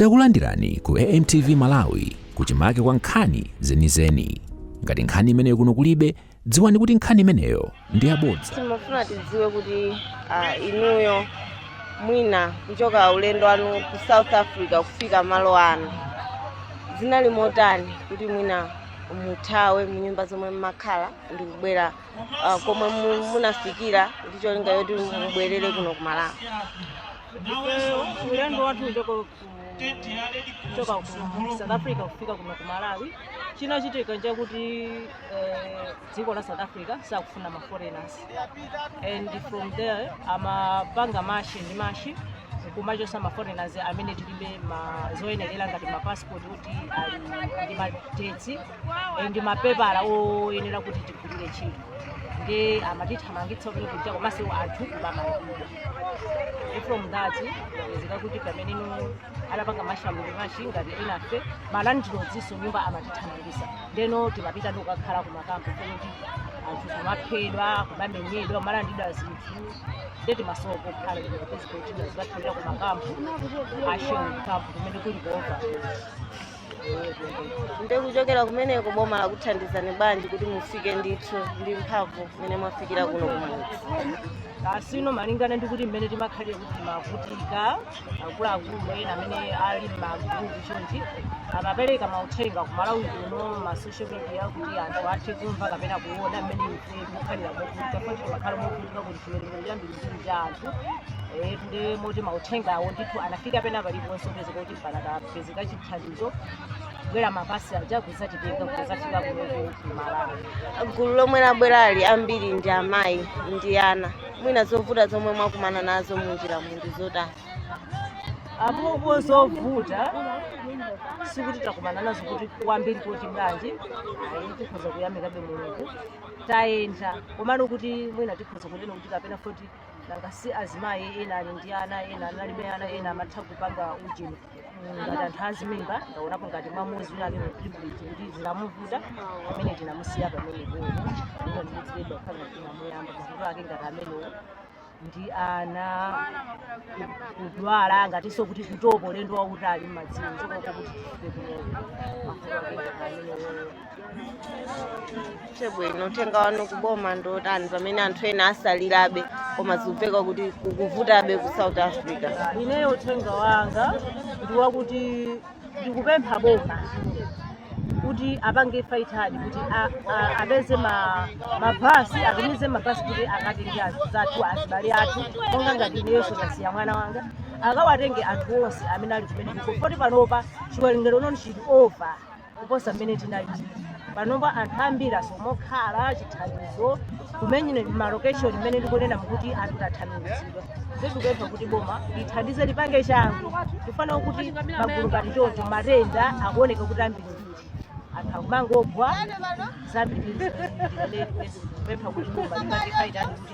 Takulandirani ku AMTV Malawi kuchimake kwa nkhani zenizeni. Ngati nkhani imeneyo kuno kulibe, dziwani kuti nkhani imeneyo ndi yabodza. timafuna tidziwe kuti ah, inuyo mwina kuchoka ulendo wanu ku south africa kufika malo ano zinali motani kuti mwina muthawe mnyumba zomwe mmakhala ndi kubwera ah, komwe mu- munafikira ndi cholinga yoti mubwerere kuno ku malawi ifeyo ulendo wathu kuchoka ku- kuchoka ku south africa kufika kuno ku malawi chinachitika nchakuti eh, dziko la south africa sakufuna ma foreigners and from there amapanga mashi ndi mashi kumachosa ma foreigners amene tilibe ma zoyenerera ngati ma passport kuti ali ndi madetsi eh, ndi mapepala oyenera kuti tigwirire ntchito nde amatithamangitsa kujaku komanso anthu kubamalira from that yapezeka kuti pamene anapanga mashamuli mashi ngati enafe ma landlords a nyumba amatithamangisa ndeno timapita ndikukakhala kumakampu kuti anthu kumaphedwa kumamenyedwa kumalandidwa zinthu nde timasowa kokhala ndikupezeka kuti tizikathawira kumakampu asheni kampu kumene kuli kuopa ndikuchokera kumeneko boma lakuthandizani bwanji kuti mufike ndithu ndi mphamvu mmene mwafikira kuno kumudzi asino malingana ndi kuti mmene timakhalira kuti timavutika akuluakulu ena amene ali m'magrupu chonchi amapereka mauthenga ku malawi kuno ma social media kuti anthu athe kumva kapena kuona mmene ife tikukhalira movutika kuti timakhala movutika kuti chiwerengero chambirimbiri cha anthu Eh, ndi moti mauthengawo ndithu anafika pena paliponse pezeka kuti panakapezeka chithandizo kubwera mabasi aja kuzatitenga kuzafika kunoku kumalawi gulu lomwe labwerali ambiri ndi amayi ndi ana mwina zovuta zomwe mwakumana nazo munjiramu ndi zotani apopo zovuta sikuti takumana nazo kuti kwambiri kuti bwanji ayi tikhoza kuyamikabe mulungu tayenda komano kuti mwina tikhoza kunena kuti kapena poti nanga si azimayi ena ali ndi ana ena analibe ana ena amatha kupanga ujeni ngati anthu azimimba ndaonapo ngati mmawamu mzimayi wina ali pregnant kuti zinamuvuta amene tinamusiya pamene boo ino ndikudziledwa kukhala tinamuyamba mavuto ake ngati amenewo ndi ana ku- kudwala ngatinso kuti kutopa ulendo wautali mmadziwo kuchoka uko kuti tifike kuno mavuto ake ngati amenewo chabwino uthenga wanu kuboma ndi otani pamene anthu ena asalirabe koma zikumveka kuti kukuvutabe ku south africa ineyo uthenga wanga ndi wakuti ndikupempha boma kuti apange faitadi kuti a- a- apeze ma- mabhasi atumize mabhasi kuti akatenge anzathu azibale athu monga ngati ineyonso ndasiya mwana wanga akawatenge anthu onse amene ali kumeneko poti panopa chiwerengero noni chili over kuposa mmene tinalili panopa anthu ambiri asowa pokhala chithandizo kumenyedwa malokeshoni mmene ndikunena kuti anthu tathamangitsidwa ndikupempha kuti boma lithandize lipange changu chifukwa kuti magulu ngati choncho matenda akuoneka kuti ambiri anthu akumangogwa zambiri kupempha kuti boma lipange faitadi kuti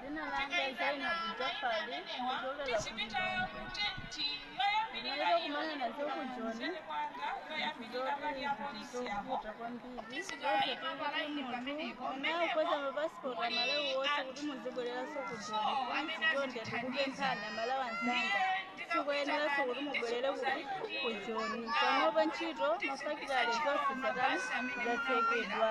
Dzina langa Zaina Bujafali ndikuchokera ku Lilongwe. Ndinakakumana nazo ku Joni zovuta kwambiri nawo kuweza mapasipoti amalawi wonse kuti muzibwereranso ku Joni kuli zii chonde ndikupemphani amalawi anzanga sikuyeneranso kuti mubwerere ku ku Joni panopa ntchito mafakitale zonse zatani zatsekedwa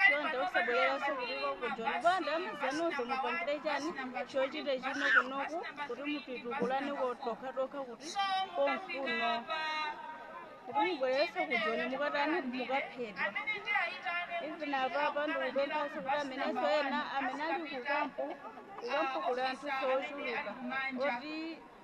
chonde musabwererenso kuliko kujoni bola amuna anuwo mupangirane chochita chino kunoku kuti mupitukulane nokhanokha kuti konkuno kuti mubwereranso kujoni mukatani mukaphedwa even apapa ndikupemphanso kuti amenenso ena amene ali kukampu kukampu kuli anthu ochuluka oti